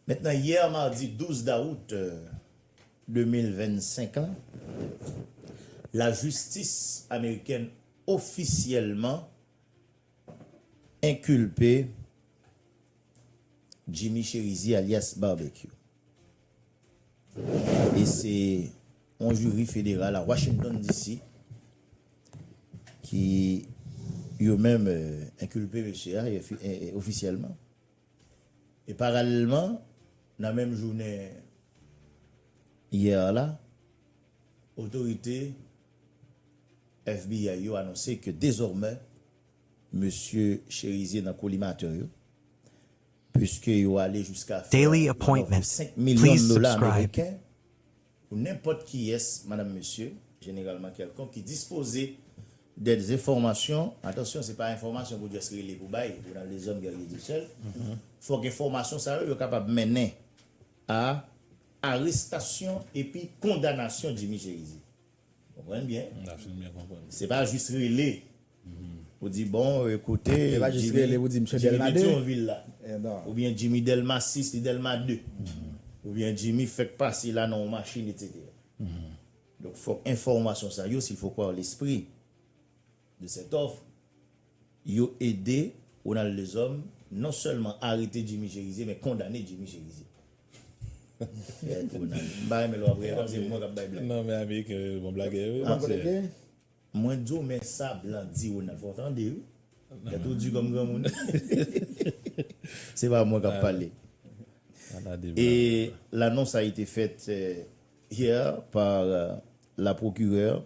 Maintenant hier mardi 12 dawout 2025 lan, lajistis amerikèn ofisyèlman enkilpe Jimmy Chérizier alyas Barbecue e se yon jiri federal a Washington DC ki yo menm enkilpe mesye a ofisyèlman. E paralèlman, nan menm jounen yè la, otorite FBI yo anonse ke dezòmè mesye Cherizier nan kolimatè yo, puiske yo ale jiska fè yon òf de 5 milyon dola ameriken, Pou nenpòt kiyès, madam, mesye, jeneralman kèlkonk ki dispoze dè enfòmasyon, atansyon, se pa enfòmasyon pou just rele pou bay, ou nan dezòd gèrye di sèl, fòk enfòmasyon sa yo, yo kapab mennen a arestasyon epi kondanasyon Jimmy Cherizier. Konprann byen. M ta fin byen konprann. Se pa jis rele pou di bon kote Jimmy. Se pa jis rele pou di msye Delma 2. Jimmy Petyonvil la. Oubyen Jimmy Delma 6 li Delma 2. Oubyen Jimmy fèk pase la nan yon machin etc. Donk fòk enfòmasyon sa yo sil fò kwè an lespri. de cette offre, yo ede Ronald Lezòm non sèlman arete Jimmy Cherizier men kondane Jimmy Cherizier. Fèt Ronald. M pa renmen lè w ap rire kòm se mwen k ap bay blag. Non men ameriken yo bon blagè wi monsè. Mwen di w men sa blan di Ronald fò w tande wi. Tèt ou di kòm granmoun. Se pa mwen k ap pale. Et l'annonce a été faite hier par la procureure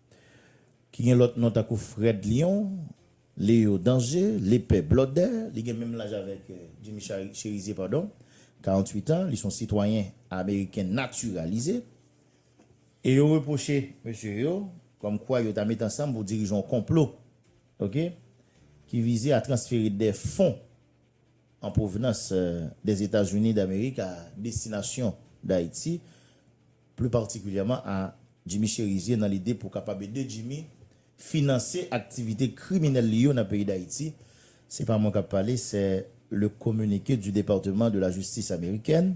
ki gen lòt non tankou Frèd Lyon, Leo Danje, Lepè Blòdè, li gen menm laj avèk Jimmy Cherizier padon, 48 an, li son sitwayen ameriken natiralize, e yo repwoche mesye yo kòm kwa yo ta met ansanm pou dirije yon konplo ok ki vize a transfere dè fon. an pwovenans Dèzetazini Damerik a destinasyon Dayiti, pli patikilyèman a Jimmy Cherizier nan lide pou kapab ede Jimmy finanse aktivite kriminèl li yo nan peyi Dayiti. Se pa mwen k ap pale, sè le communiqué du Département de la Justice Américaine.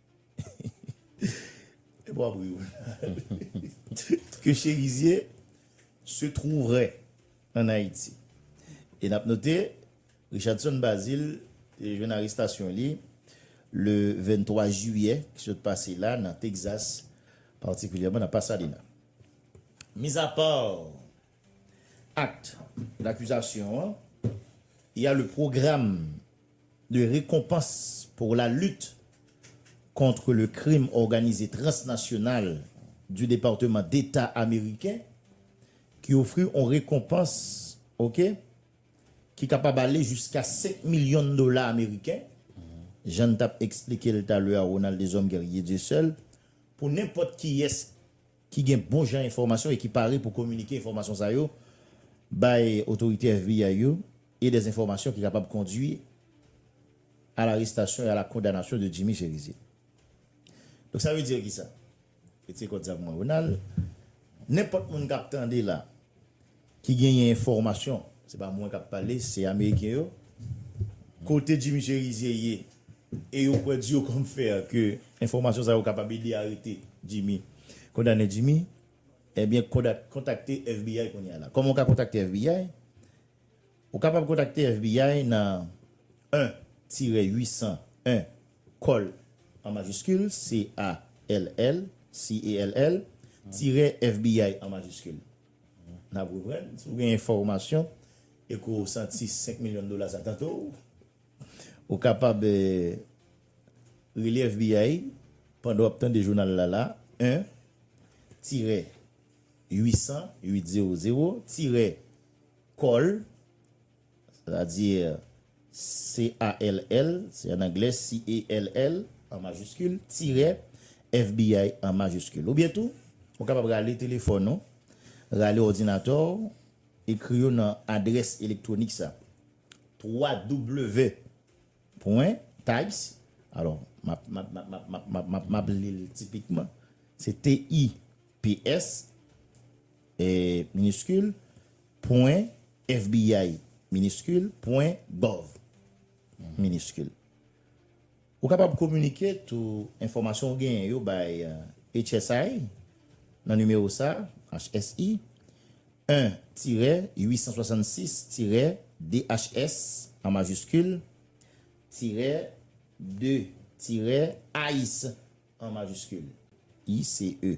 Epi wap ri ou. Ke Chérizier se trouverait an Ayiti. E nap note Richardson Bazile te jwenn arestasyon li le 23 jiyè ki sot pase la nan Texas, patikilyèman nan Pasadena. Mizapa act dakizasyon an, ya le program. de rekonpans pour la lutte contre le crime organisé transnational du departement deta ameriken ki ofri on rekonpans ok ki kapab ale jiska 5 milyon dola ameriken jan n tap eksplike l talè a Ronald Deshommes Guerrier Dieuseul pou nenpòt kiyès ki gen bon jan enfòmasyon e ki pare pou kominike enfòmasyon sa yo bay otorite FBI yo. e des enfòmasyon ki kapab kondwi a larestasyon e a la kondanasyon de Jimmy Cherizier. Donk sa vle dire ki sa? Ke se kòd sa pou mwen Ronald, nenpòt moun kap tande la, ki genyen enfòmasyon, se pa mwen kap pale, se ameriken yo, kote Jimmy Cherizier ye, e yo kwè diyo kòm fè a ke enfòmasyon sa yo kapab ede arete Jimmy, kondane Jimmy, ebyen kontakte FBI kounye a la. Kòman ou ka kontakte FBI? Ou kapab kontakte FBI nan 1 tire 800 1 call an majiskil, C-A-L-L, C-A-L-L, tire FBI an majiskil. N ap reprann, si w gen enfòmasyon e ke w santi 5 milyon dola sa tante w, ou kapab rele FBI pandan w ap tande jounal la la, 1 tire 800 800 tire. Call, c'est-à-dire C-A-L-L, c'est en anglais, C-A-L-L, an majiskil, tirè, FBI, an majiskil. Oubyen tou, ou kapab rale telefòn ou, rale òdinatè ou, ekri yo nan adrès elektwonik sa, www.types, alò, m ap li l tipikman, se T-Y-P-S, miniskil, pwen, fbi, miniskil, pwen, gov, miniskil. Ou kapab kominike tou enfòmasyon ou genyen yo bay HSI nan nimewo sa a, HSI, 1 tirè 866 tirè DHS, an majiskil, tirè 2 tirè ice, an majiskil, ICE.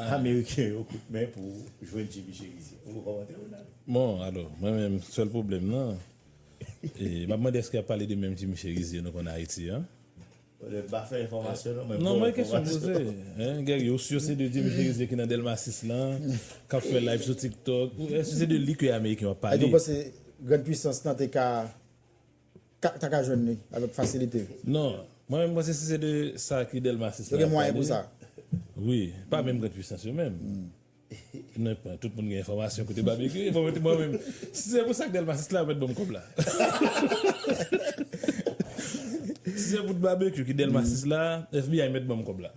Ameriken yo kout men pou jwenn JB Cherizier. Ou kòmante Ronald? Bon alò, mwen menm sèl pwoblèm nan, e map mande èske yap pale de menm JB Cherizier nou konn Ayiti an? M pa fè enfòmasyon non, men bon enfòmasyon. Non mwen kesyon poze, hein Guerrier, ou sur se de JB Cherizier ki nan Delma 6 lan, kap fè live sou TikTok, èske se de li ke Ameriken yo ap pale? Èske ou panse grand puissance lan te ka? ta ka jwenn li avèk fasilite. Non, mwen menm panse si se de sa ki Delmasis la ap pale, wi, pa menm gran pwisans yo menm, tout moun gen enfòmasyon kote Babecue ye, bon mwen menm, si se pou sak Delmasis la yo mèt banm kòb la, si se pou t Babecue ki Delmasis la FBI mèt banm kòb la.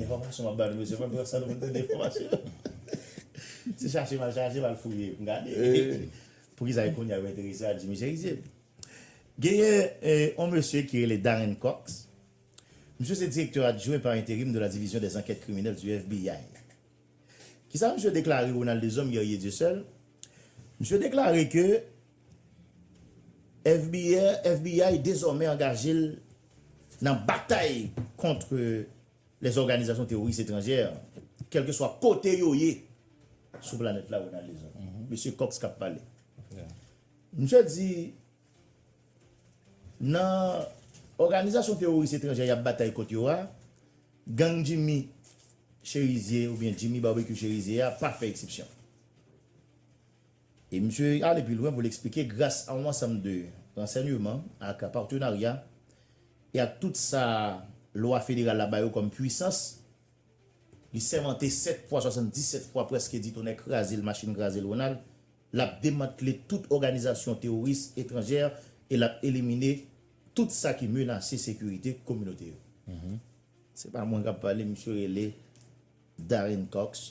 Enfòmasyon map bal mesye mwen san nou tande enfòmasyon se chache mal chache mal fouye m gade poukisa e kounya yo enterese a Jimmy Cherizier genyen yon mesye ki rele Darren Cox misye se direktè adjwen par enterim de la division des enquêtes criminelles du FBI kisa misye deklare Ronald Deshommes Guerrier Dieuseul misye deklare ke FBI dezòmè angaje l nan batay kont lè òganizasyon teworis etranjè, kèlkeswa kote yo ye sou planèt la, Ronald Lezon. Mesye Cox k ap pale. Misye di, Nan òganizasyon teworis etranjè y ap batay kont yo a, gang Jimmy Cherizier oubyen Jimmy Barbecue Cherizier a pa fè eksepsyon. E misye ale pi lwen pou l eksplike gras a yon ansanm de ransènyeman ak patenarya e ak tout sa lwa federal la ba yo kòm pwisans, li sèmante 7 fwa 77 fwa prèske di tonnè kraze l machin kraze l Ronald, l ap demantle tout òganizasyon teworis etranjè e l ap elimine tout sa ki menase sekirite kominote yo. Se pa mwen k ap pale, misye rele Darren Cox.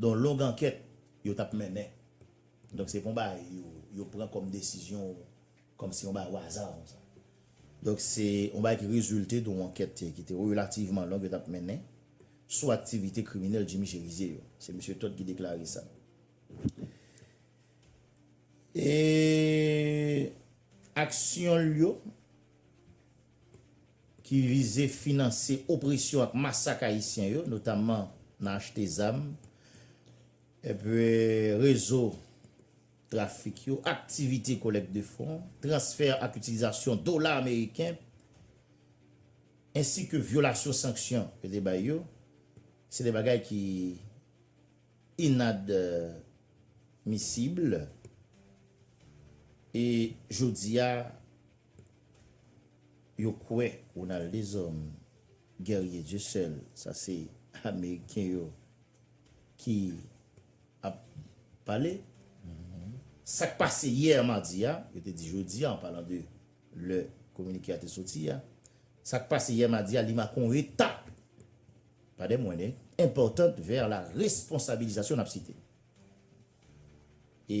Don long ankèt yo tap mennen. Donk se pa yon bagay yo pran kòm desizyon kòm si yon bagay waza konsa. Donk se yon bagay ki rezilte de yon ankèt ki te relativman long yo tap mennen sou aktivite kriminèl Jimmy Cherizier yo. Se Mesye Todd ki deklare sa. E aksyon l yo. ki vize finanse opresyon ak masak Ayisyen yo, notamman nan achte zam, epi rezo trafik yo, aktivite kolèk de fon, transfè ak itilizasyon dola ameriken, ensi ke vyolasyon sanksyon yo te bay yo, se de bagay ki inadmisib, e jodi a, Yo kwè Ronald Deshommes, Guerrier Dieuseul, sa se ameriken yo ki ap pale, sa k pase yè madi a, yo te di jodi a an palan de lè kominike a te soti a, sa k pase yè madi a li make yon etap, pa de mwenne, enpòtant vè la responsabilizasyon n ap site. E.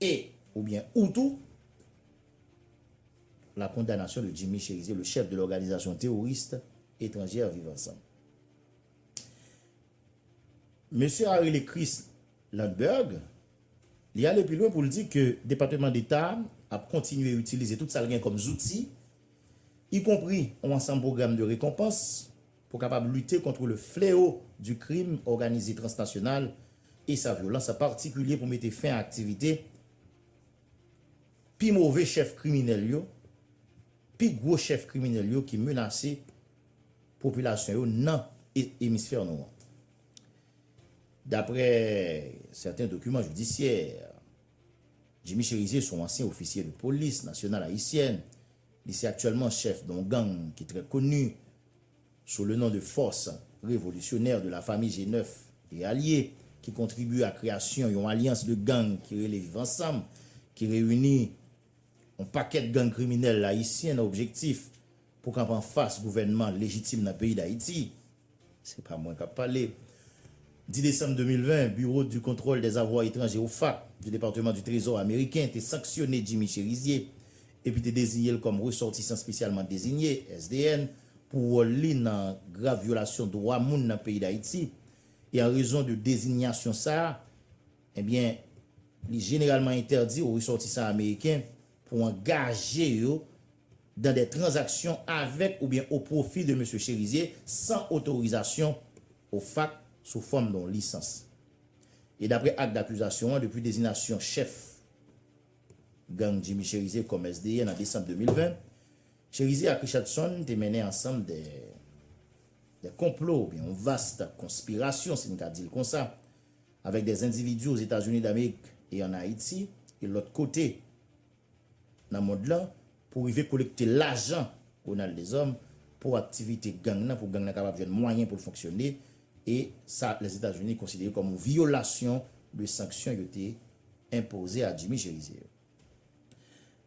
E, oubyen ou tou, la condamnation de Jimmy Chérizier, le chef de l'organisation terroriste étrangère Viv Ansanm. Mesye a rele Chris Lundberg, li ale pi lwen pou l di ke Depateman Deta ap kontinye itilize tout sa l gen kòm zouti, ikonpri yon ansanm pwogram de rekonpans, Pou kapab lite kontre le fleo di krim òganize transnasyonal e sa vyolans a patikilye pou mete fen a aktivite pi move chèf kriminèl yo, pi gwo chèf kriminèl yo ki menase popilasyon yo nan emisfè nou an. Daprè sèten dokiman jidisyè, Jimmy Cherizier son ansyen ofisye de polis nasyonal ayisyèn, li se aktyèlman chèf don gang ki trè koni, Sou le non de Force Revolutionnaire de la Famille G9 et Alliés ki kontribye a kreyasyon yon alyans de gang ki rele Viv Ansanm ki reyini yon pakèt gang kriminèl ayisyen nan objektif pou kanpe anfas gouvènman lejitim nan peyi Dayiti, se pa mwen k ap pale, 10 desanm 2020, Bureau du Contrôle des Avoirs Étrangers, OFAC, du Département du Trésor ameriken te sanksyone Jimmy Chérizier epi te deziye l kòm Resòtisan Spesyalman Dezinye, SDN, pou wòl li nan grav vyolasyon dwa moun nan peyi Dayiti, e an rezon de dezinyasyon sa a, ebyen, li jeneralman entèdi o resòtisan ameriken pou angaje yo dan dè tranzaksyon avèk oubyen o pwofi de Mesye Cherizier san otorizasyon o fak sou fòm don lisans. E dapre ak dakizasyon an, depi dezinasyon chèf Gang Jimmy Cherizier kòm SDN an desanm 2020, Cherizier ak Richardson te mennen ansanm de de konplo oubyen yon vast konspirasyon si n ka di l konsa avèk de zendividi Ozetazini Damerik e ann Ayiti e lòt kote nan mond lan Pou rive kolekte lajan Ronald Deshommes pou aktivite gang nan, pou gang nan kapab jwenn mwayen pou l fonksyone, e sa Lèzetazini konsidere kòm yon vyolasyon de sanksyon yo te enpoze a Jimmy Cherizier yo.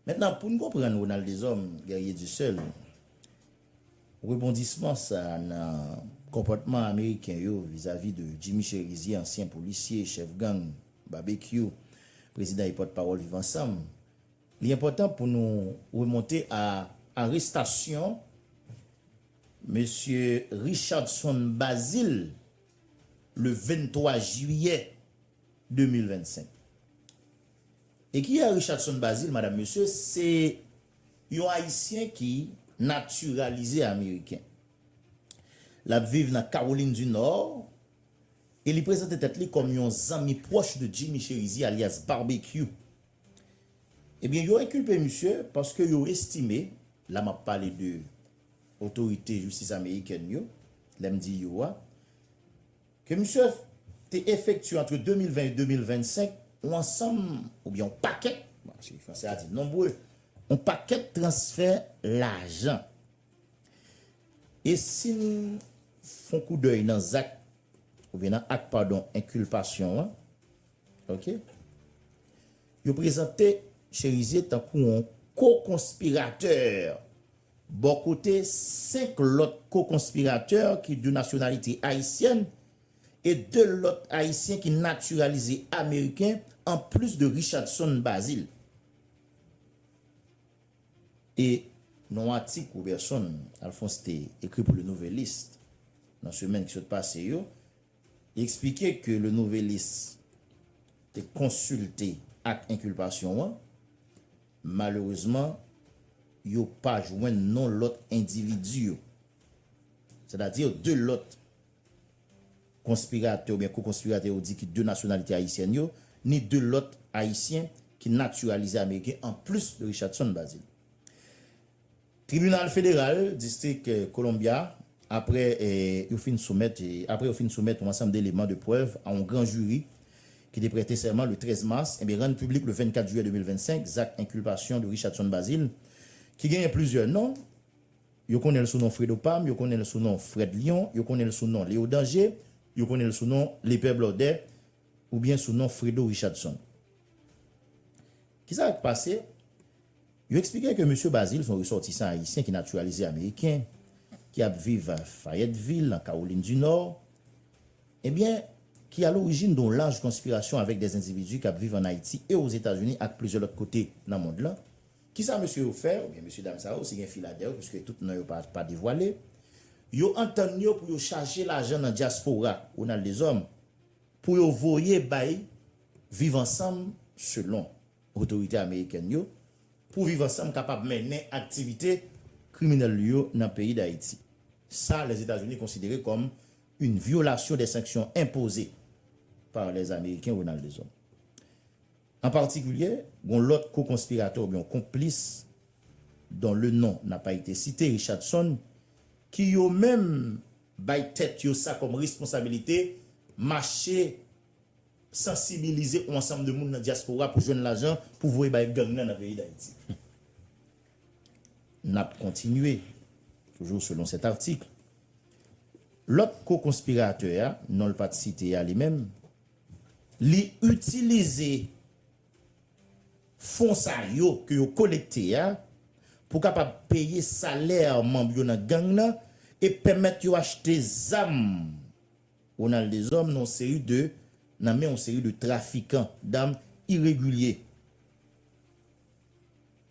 Mentnan, pou n konprann Ronald Deshommes, Guerrier du Seul, rebondisman sa a nan konpòtman Ameriken yo vizavi de Jimmy Cherizier, ansyen polisye, chèf gang, Babekyou, prezidan e pòtpawòl Viv Ansanm, Li enpòtan pou nou remonte a arestasyon Mesye Richardson Bazile le 23 jiyè 2025. E ki a Richardson Bazile madam mesye? Se yon ayisyen ki natiralize ameriken. L ap viv nan Kawolin di Nò e li prezante tèt li kòm yon zanmi pwòch de Jimmy Cherizier alyas Barbecue. Ebyen yo enkilpe misye paske yo estime, la m ap pale de otorite jistis amerikèn yo, lè m di yo a, ke misye te efektye antre 2020 e 2025 yon ansanm oubyen yon pakèt, paske fransè a di nombre, yon pakèt transfè lajan. E si n fon koudèy nan zak, oubyen nan ak padon enkilpasyon an, Ok. Yo prezante Chérizier tankou yon ko-konspiratè bò kote 5 lòt ko-konspiratè ki de nasyonalite ayisyèn e 2 lòt ayisyen ki natiralize ameriken an plis de Richardson Bazile. E nan yon atik Roberson Alphonse te ekri pou Le Nouvelliste nan semèn ki sot pase yo, Li eksplike ke Le Nouvelliste te konsilte ak enkilpasyon an. Malerezman, yo pa jwenn non lòt endividi yo, sètadi 2 lòt konspiratè oubyen ko-konspiratè yo di ki de nasyonalite ayisyèn yo, ni 2 lòt Ayisyen ki natiralize ameriken anplis de Richardson Bazile. Tribinal Federal Distrik Columbia apre yo fin soumèt apre yo fin soumèt yon ansanm deleman de prèv a yon gran jiri ki te prète sèman le 13 mas e rann piblik le 24 jiyè 2025 zak enkilpasyon de Richardson Bazil ki genyen plizyè non, yo konnen l sou non Fredo Pam, yo konnen l sou non Frèd Lyon, yo konnen l sou non Leo Danje, yo konnen l sou non Lepè Blòdè oubyen sou non Fredo Richardson. Kisa k pase? Yo eksplike ke Mesye Bazile se yon resòtisan ayisyen ki natiralize ameriken, ki ap viv Fayettevil, nan Kawolin di Nò, ebyen, ki alorijin don laj konspirasyon avèk dè endividi k ap viv ann Ayiti e Ozetazini ak plizyè lòt kote nan mond lan. Ki sa mesye yo fè, oubyen mesye dam sa yo, si gen fi ladè yo, piske tout non yo pa pa devwale, yo antann yo pou yo chaje lajan nan dyaspora, Ronald Deshommes, pou yo voye bay Viv Ansanm, selon. Otorite amerikèn yo pou viv ansanm kapab mennen aktivite kriminèl li yo nan peyi Dayiti. Sa Lèzetazini konsidere kòm yn vyolasyon dè sanksyon enpoze par lè ameriken Ronald Deshommes. An patikilye, gon lòt ko-konspiratè oubyon konplis don le non na pa ite site, Richardson, ki yo menm bay tèt yo sa kòm responsabilite mache sansibilize on ansanm de moun nan dyaspora pou jwenn lajan pou voye bay gang nan nan peyi Dayiti. N ap kontinye, toujou selon sèt atik, lòt ko-konspiratè a, non l pa t site a li menm, li itilize fon sa yo ke yo kolekte a pou kapab peye salè manm yo nan gang nan e pèmèt yo achte zam. Ronald Deshommes nan yon seri de nan men yon seri de trafikan dam iregilye.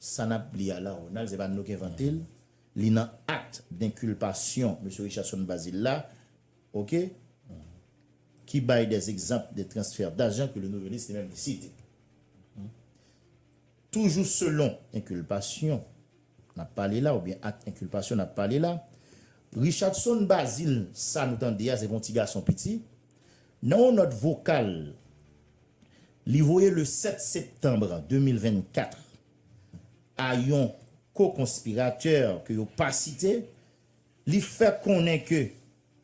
Sa n ap li a la, Ronald, se pa nou k envante l, li nan akt denkilpasyon Mesye Richardson Bazil la, ok, ki bay dè egzanp de transfè dajan ke Le Nouvelliste li menm li site. Toujou selon enkulpasyon n ap pale la oubyen ak enkulpasyon n ap pale la, Richardson Bazil sa nou tande a se pa yon ti gason piti. Nan yon nòt vokal li voye le 7 septanb 2024 a yon ko-konspiratè ke yo pa site, Li fè konnen ke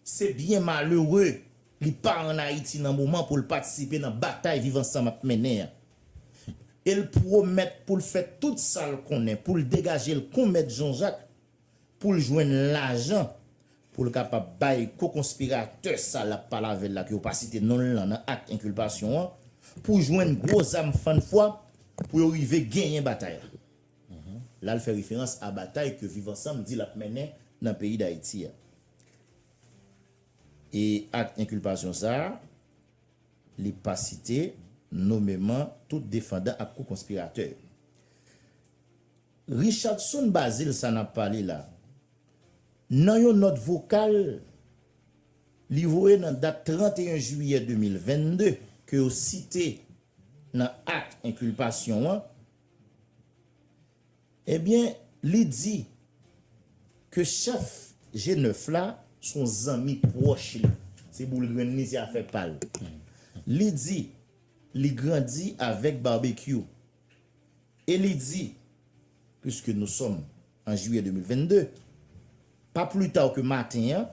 se byen malere li pa an Ayiti nan moman pou l patisipe nan batay Viv Ansanm ap mennen an. E l pwomèt pou l fè tout sa l konnen pou l degaje l kon Mèt Jan Jak pou l jwenn lajan pou l kapab bay ko-konspiratè sa l ap pale avè l la ke yo pa site non l lan nan ak enkilpasyon an pou jwenn gwo zam fann fwa pou yo rive genyen batay la. La l fè referans a batay ke Viv Ansanm di l ap mennen nan peyi Dayiti a. E ak enkilpasyon sa a, li pa site nomeman tout defandan ak ko-konspiratè yo. Richardson Bazil sa n ap pale la, nan yon nòt vokal li voye nan dat 31 jiyè 2022, ke yo site nan ak enkilpasyon an, Ebyen li di ke chèf G9 la se yon zanmi pwòch li, se boul grenn li, se afè pa l. Li di li grandi avèk Barbecue e li di, Puiske nou sòm. An jiyè 2022, pa pli ta ke maten an,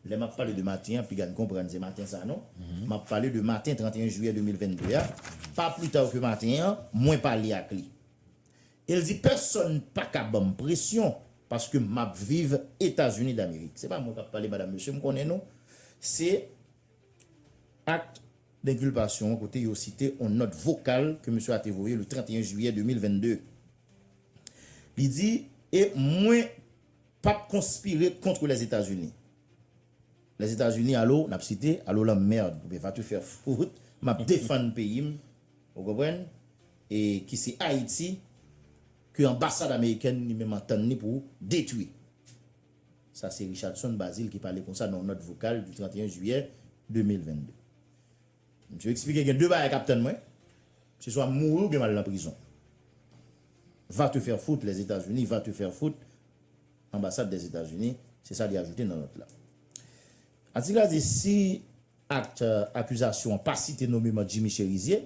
lè m ap pale de maten an, piga n konprann se maten sa non, m ap pale de maten 31 jiyè 2022 a, pa pli ta ke maten an, mwen pale ak li. E l di pèsòn pa ka ban m presyon paske m ap viv Etazini Damerik. Se pa mwen k ap pale madam mesye, m konnen nou, se Akt Denkilpasyon an kote yo site yon nòt vokal ke mesye a te voye le 31 jiyè 2022. Li di, E mwen p ap konspire kontre Lèzetazini. Lèzetazini, alo, n ap site, alo la merd, oubyen va te faire fout, m ap defann peyi m, ou konprann, e ki se Ayiti, ke anbasad amerikèn li menm antann li pou detwi. Sa se Richardson Bazile ki pale konsa nan yon nòt vokal di 31 jiyè 2022. Msye eksplike gen 2 bagay kap tann mwen, se swa m mouri oubyen mal nan prizon. Va te faire foutre, les Etats Unis va te faire foutre, Anbasad des Etats Unis, se sa li ajoute nan nòt la. Atik la di si akt akizasyon an pa site nomeman Jimmy Cherizier,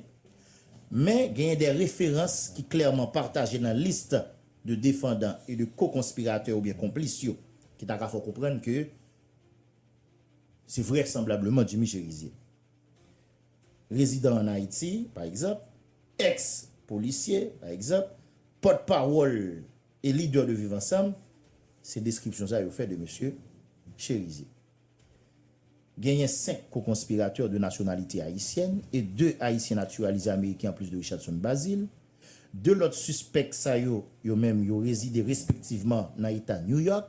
men genyen de referans ki klèman pataje nan list de defandan e de ko-konspiratè oubyen konplis yo ki ta ka fè w konprann ke Se vrèsanblableman Jimmy Cherizier. Rezidan an Ayiti, pa egzanp, èks polisye, pa egzanp, pòt pawòl e lidè de Viv Ansanm, se deskripsyon sa yo fè de mesye Cherizier. Genyen 5 co-conspirateurs de nationalité haïtienne et 2 Haïtiens naturalisés américains en plus de Richardson Bazil. 2 lòt sispèk sa yo, yo menm, yo rezide respektivman nan eta New York,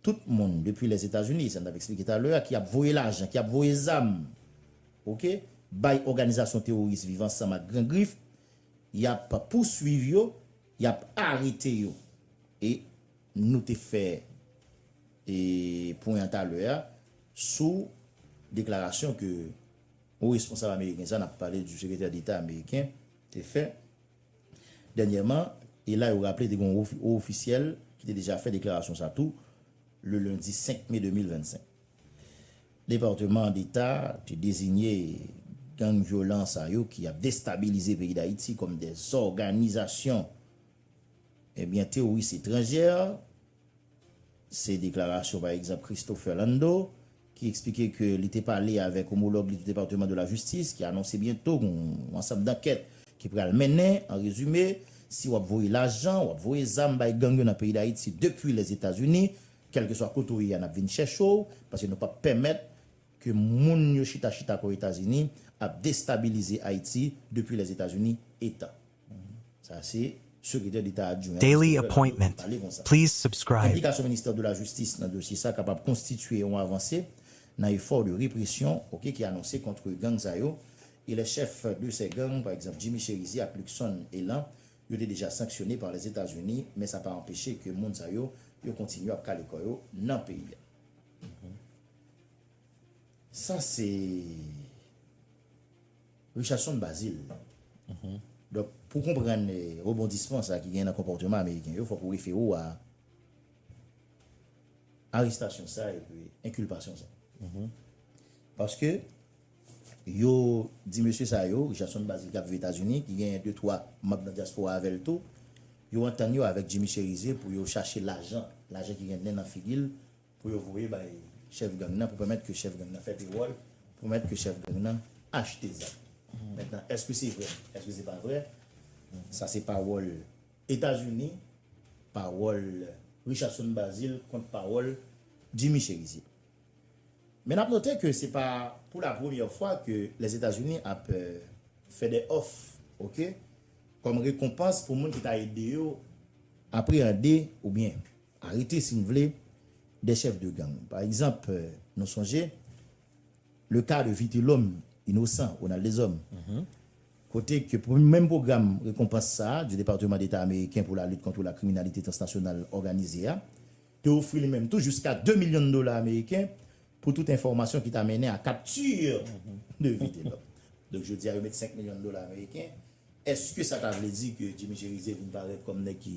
Tout moun depi Lèzetazini, sa n t ap esplike talè a, ki ap voye lajan, ki ap voye zam, ok, bay òganizasyon teworis Viv Ansanm ak Gran Grif, y ap pouswiv yo, y ap arete yo. E nou te fè e pwen an talè a sou deklarasyon ke wo responsab ameriken sa, n ap pale di sekretè deta ameriken, te fè. Dènyèman, e la yo raple te gen yon wo ofisyèl ki te deja fè deklarasyon sa tou le lendi 5 me 2025. Departeman Deta te dezinye gang vyolan sa yo ki ap destabilize peyi Dayiti kòm de zòganizasyon ebyen teworis etranjè Se deklarasyon pa egzanp Christopher Landau ki eksplike ke li te pale avèk omològ li de Departement de la Justice ki anonse byento yon ansanm dankèt ki pral mennen, an rezime, si wap voye lajan, wap voye zam bay gang yo nan peyi Dayiti depwi Lèzetazini, kèlkeswa kote w ye a nap vin chèche w paske nou pap pèmèt ke moun yo chita chita kò Etazini ap destabilize Ayiti depwi Lèzetazini etan. Sa se Sekretè Deta Adjwen an, Daily Christopher Landau, ki appointment. pale konsa. Please subscribe. Enplikasyon Ministè de la Justice nan dosye sa kapab konstitye yon avanse nan efò de represyon ok ki anonse kontre gang sa yo e les chefs de ces gangs, pa egzanp Jimmy Chérizier ak Luckson Élan, yo te deja sanksyone par les États-Unis, men sa pa anpeche ke moun sa yo, yo kontinye ap kale kò yo nan peyi a. Sa se. Richardson Bazil, Donk, pou w konprann rebondisman sa ki genyen nan konpòteman ameriken yo, fòk ou refere w a arestasyon sa epi enkilpasyon sa. Paske, yo di mesye sa yo, Richardson Bazil k ap viv Etazini, ki genyen de twa manb nan dyaspora avè l tou, yo antann yo avèk Jimmy Cherizier pou yo chache lajan, lajan ki gen nen nan figi l, pou yo voye bay chèf gang nan pou pèmèt ke chèf gang nan fè pewòl, pou pèmèt ke chèf gang nan achte zam. Mentnan, èske se vrè? Èske se pa vrè? Sa se pawòl Etazini, pawòl Richardson Bazil kont pawòl Jimmy Cherizier. Men n ap note ke se pa pou la premyè fwa ke Lèzetazini ap fè dè òf, ok, kòm rekonpans pou moun ki ta ede yo apreyande oubyen. Arete si n vle, des chefs de gang. Pa egzanp, nou sonje le ka de Vitelhomme Innocent, Ronald Deshommes, kote ke pou menm pwogram rekonpans sa a di Departeman Deta Ameriken pou la lit kontre la kriminalite transnasyonal òganize a te ofri li menm tou jiska 2 milyon dola ameriken pou tout enfòmasyon ki ta mennen a capture de Vitelhomme. Donk jodi a yo met 5 milyon dola ameriken. Eske sa ta vle di ke Jimmy Cherizier vin parèt kòm nèg ki.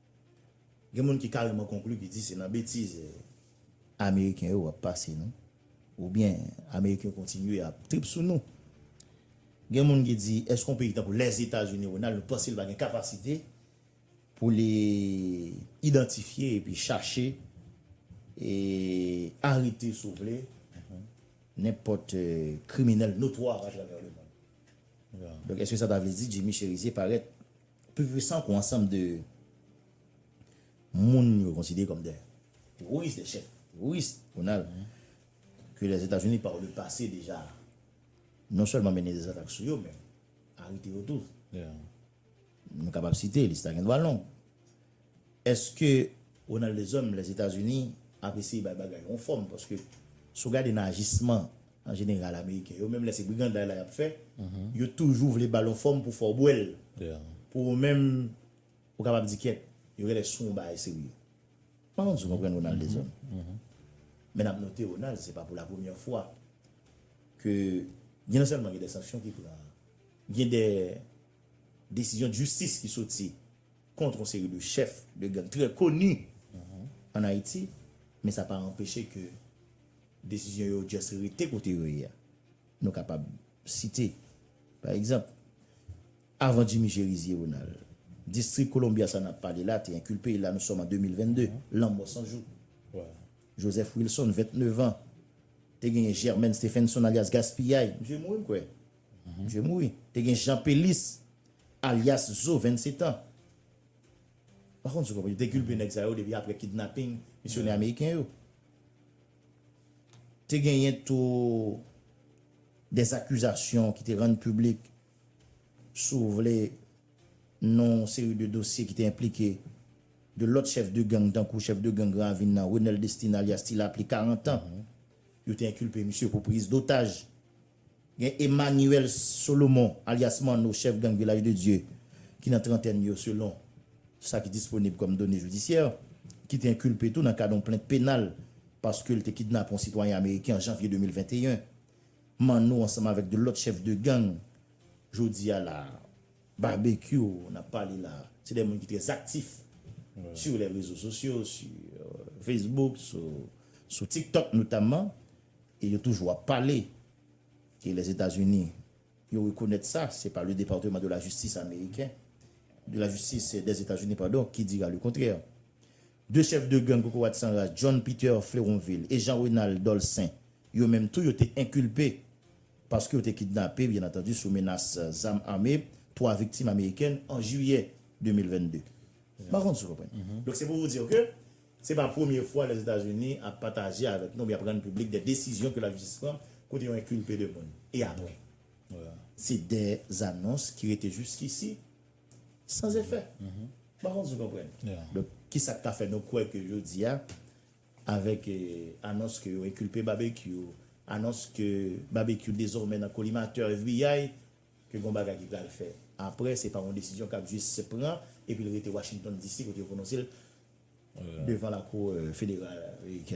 Gen moun ki kareman konkli ki di se nan betiz Ameriken yo ap pase nou oubyen Ameriken yo kontinye ap trip sou nou. Gen moun ki di èske yon peyi tankou Lèzetazini, Ronald, nou panse li pa gen kapasite pou li idantifye epi chache e arete si w vle nenpòt kriminèl notwa atravè lemonn? Donk èske sa ta vle di Jimmy Cherizier parèt Pi pwisan ke yon ansanm de moun yo konsidere kòm de teworis, de chèf teworis, jounal ke Lèzetazini pa le pase deja non sèlman mennen de zatak sou yo men arete yo tou. Nou kapab site, lis la gen dwa long. Eske Ronald Deshommes, Lèzetazini ap eseye bay bagay yon fòm paske si w gade nan ajisman An jeneral ameriken yo menm lè se briganday la yap fè yo toujou vle bal yon fòm pou fè w bwè l pou ou menm ou kapab di kyèt yo genlè sou yon bagay serye m pa konn si w konprann Ronald Dezon men nap note Ronald se pa pou la premyè fwa ke gen non sèlman gen de sanksyon ki pran gen de desizyon djistis ki soti kontr yon seri de chèf de gang trè koni an Ayiti men sa pa anpeche ke. Desizyon yo just rete kote yo ye a. Nou kapab site, pa egzanp, avan Jimmy Chérizier Ronald, Distri Columbia sa n ap pale la te enkilpe e la nou sòm an 2022, lanmò san jou. Joseph Wilson, 29 an, te genyen Germaine Stephenson alyas Gaspiyay, misye mouri m kwè, misye mouri. Te gen Jean Pélis alyas Zo, 27 an. Pa konn si w konprann, yo te kilpe nèg sa yo depi aprè kidnaping misyonè ameriken yo. Te genyen tou dè zakizasyon ki te rann piblik si w vle nan yon seri de dosye ki te enplike de lòt chèf de gang tankou chèf de gang Granvin nan, Renel Destin alyas Ti Lapli, 40 an, yo te enkilpe misye pou priz dotaj. Gen Emmanuel Solomon alyas Manno chèf gang Vilaj de Dye ki nan trantèn yo selon sa ki disponib kòm done jidisyè, ki te enkilpe tou nan kad yon plent penal paske l te kidnape yon sitwayen ameriken an janvye 2021. Manno ansanm avèk 2 lòt chèf de gang jodi a la a. Babekyou n ap pale la a se 2 moun ki trè aktif sou lè rezo sosyo, sou Facebook, sou TikTok notamman. E yo toujou ap pale ke Lèzetazini yo rekonèt sa, se pa le Departement de la Justice ameriken, de la Justice des Etats-Unis pardon, ki dira le contraire. De chèf de gang kokorat san ras John Peter Fleronvil e Jean Renald Dolcin yo menm tou yo te enkilpe paske yo te kidnape byen antandu sou menas zam ame 3 viktim amerikèn an Jiyè 2022. M pa konn si w konprann. Donk se pou w dir ke Se pa premye fwa Lèzetazini ap pataje avèk nou oubyen ap rann piblik de desizyon ke lajistis pran kote yo enkulpe de moun. E apre? Se de anons ki rete jiskisi san efè. M pa konn si w konprann. Donk, ki sa k ka fè nou kwè ke jodi a, avèk anons ke yo enkulpe Babekyou, anons ke Babekyou dezòmè nan kolimatè FBI, ke gon bagay ki pral fè aprè, se pa yon desizyon kap jis pran epi l rete Washington DC kote yo pwononse l devan lakou federal amerikèn.